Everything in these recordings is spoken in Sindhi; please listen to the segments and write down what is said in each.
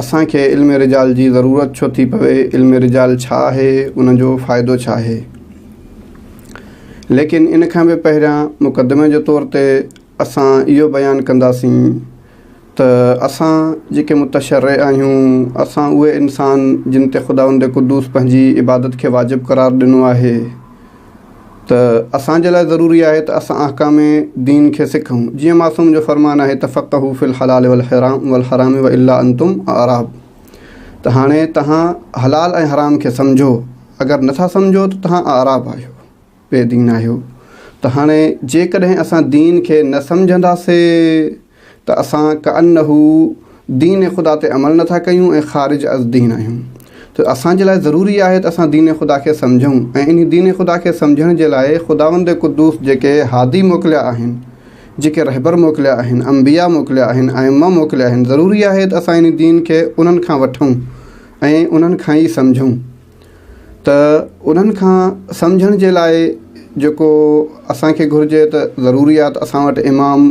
اسان کي علم رجال جي ضرورت ڇو ٿي پوي، علم رجال ڇا آهي، ان جو فائدو ڇا آهي. ليڪن ان کان به پهريان مقدمي جي طور تي اسان اهو بيان ڪنداسين ته اسان جيڪي متشرع آهيون، اسان اهي انسان جن تي خداوند قدوس پنهنجي عبادت کي واجب قرار ڏنو آهي، ته اسان جي لاء ضروري آهي ته اسان احڪام دين کي سکون. جيئن معصوم جو فرمان آهي تفقهو في الحلال والحرام والحرام والا انتم اعراب ته هاڻي تهان حلال ۽ حرام کي سمجهو اگر نه ٿا سمجهو ته تهان اعراب آهيو، بي دين آهيو، ته هاڻي جيڪڏهن اسان دين کي نه سمجهنداسين. ته اسان ڪأنه دين خدا تي عمل نه ٿا ڪيون ۽ خارج از دين آهيون ته اسان جي لاء ضروري آهي ته اسان دين خدا کي سمجهون ۽ انهي دين خدا کي سمجهڻ جي لاء خداوند قدوس جيڪي هادي موڪليا آهن، جيڪي رهبر موڪليا آهن، انبياء موڪليا آهن، ائمه موڪليا آهن، ضروري آهي ته اسان انهي دين کي انهن کان وٺون ۽ انهن کان ئي سمجهون. ته انهن کان سمجهڻ جي لاء جيڪو اسان کي گهرجي ته ضروري آهي ته اسان وٽ امام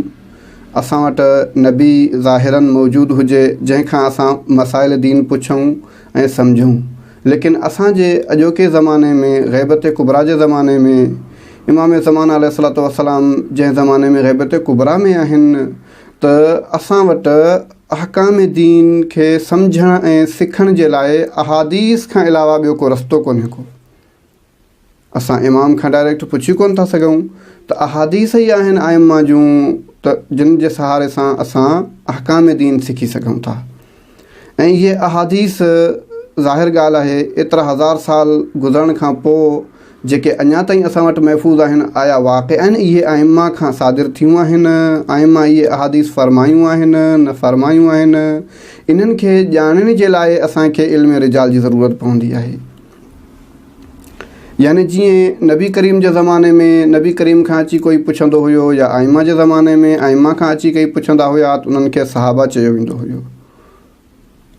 اسان وٽ نبي ظاهراً موجود هجي جنهن کان اسان مسائل دين پڇون ۽ سمجهون ليڪن اسان جي اڄوڪي زماني ۾ غيبت ڪبريٰ جي زماني ۾ امام زمان عليه الصلوة والسلام جنهن زماني ۾ غيبت ڪبريٰ ۾ آهن ته اسان وٽ احڪام دين کي سمجهڻ ۽ سکڻ جي لاء احاديث کان علاوه ٻيو ڪو رستو ڪونهي ڪو. اسان امام کان ڊائريڪٽ پڇي ڪونه ٿا سگهون ته احاديث ئي آهن ائمه جون ته جن جي سهاري سان اسان احڪام دين سکي سگهون ٿا. ۽ اهي احاديث ظاهر ڳالهه آهي ايترا هزار سال گذرڻ کان پوء جيڪي اڃا تائين اسان وٽ محفوظ آهن آيا واقعاً اهي ائمه کان صادر ٿيون آهن؟ ائمه اهي احاديث فرمايون آهن؟ نه فرمايون آهن؟ انهن کي ڄاڻڻ جي لاء اسان کي علم رجال جي ضرورت پوندي آهي. يعني جيئن نبي ڪريم جي زماني ۾ نبي ڪريم کان اچي ڪوئي پڇندو هيو يا ائمه جي زماني ۾ ائمه کان اچي ڪئي پڇندا هيا ته انهن کي صحابه چيو ويندو هيو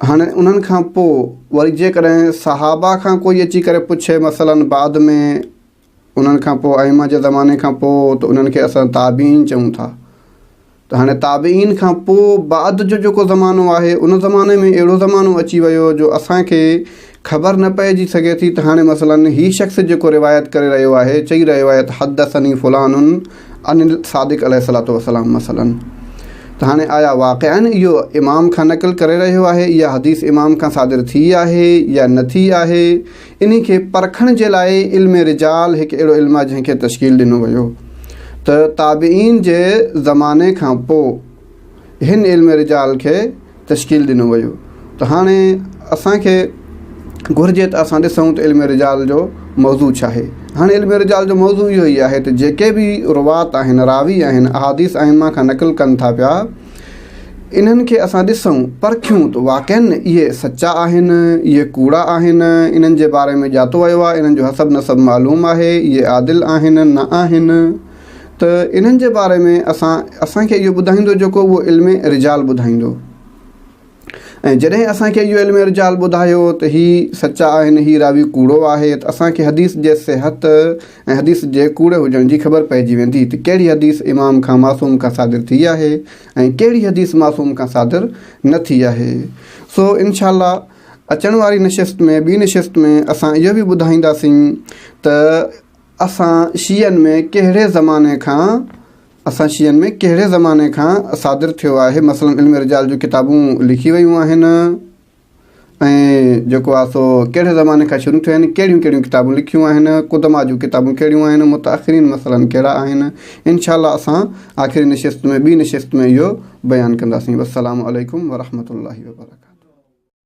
هاڻي انهن کان پوء وري جيڪڏهن صحابه کان ڪوئي اچي ڪري پڇي مثلا بعد ۾ انهن کان پوء ائمه جي زماني کان پوء ته انهن کي اسان تابعين چئون ٿا ته هاڻي تابعين کان پوء بعد جو جيڪو زمانو آهي ان زماني ۾ اهڙو زمانو اچي ويو جو اسانکي خبر نه پئجي سگهي ٿي ته هاڻي مثلاً هي شخص جيڪو روايت ڪري رهيو آهي چئي رهيو آهي ته حدثني فلان عن الصادق عليه الصلاة والسلام مثلاً ته هاڻي آيا واقعاً اهو امام کان نقل ڪري رهيو آهي اها حديث امام کان صادر ٿي آهي يا نه ٿي آهي انهي کي پرکڻ جي لاء علم رجال هڪ اهڙو علم آهي جنهن کي تشڪيل ڏنو ويو ته تابعين جي زماني کان پوء هن علم رجال کي تشڪيل ڏنو ويو ته هاڻي اسان کي گهرجي ته اسان ڏسون ته علم رجال جو موضوع ڇا آهي هاڻي علم رجال جو موضوع اهو ئي آهي ته جيڪي به روات آهن راوي آهن احاديث ائمه کان نقل ڪن ٿا پيا انهن کي اسان ڏسون، پرکيون ته واقعن اهي سچا آهن، اهي ڪوڙا آهن، انهن جي باري ۾ ڄاتو ويو آهي، انهن جو حسب نسب معلوم آهي، اهي عادل آهن، نه آهن. ته انهن جي باري ۾ اسان، اسان کي اهو ٻڌائيندو جيڪو اهو علم رجال ٻڌائيندو. ۽ جڏهن اسان کي اهو علم رجال ٻڌايو ته هي سچا آهن هي راوي ڪوڙو آهي ته اسان کي حديث جي صحت ۽ حديث جي ڪوڙي هجڻ جي خبر پئجي ويندي ته ڪهڙي حديث امام کان معصوم کان صادر ٿي آهي ۽ ڪهڙي حديث معصوم کان صادر نه ٿي آهي سو انشاء الله اچڻ واري نشست ۾ ٻي نشست ۾ اسان اهو به ٻڌائينداسين ته اسان شيعن ۾ ڪهڙي زماني کان اسان شيعن ۾ ڪهڙي زماني کان صادر ٿيو آهي مثلاً علم رجال جون ڪتابون لکي ويون آهن ۽ جيڪو آهي سو ڪهڙي زماني کان شروع ٿيو آهن ڪهڙيون ڪهڙيون ڪتابون لکيون آهن قدما جون ڪتابون ڪهڙيون آهن متاخرين مثلاً ڪهڙا آهن انشاء الله اسان آخري نشست ۾ ٻي نشست ۾ اهو بيان ڪنداسين والسلام عليڪم ورحمة الله وبرڪاته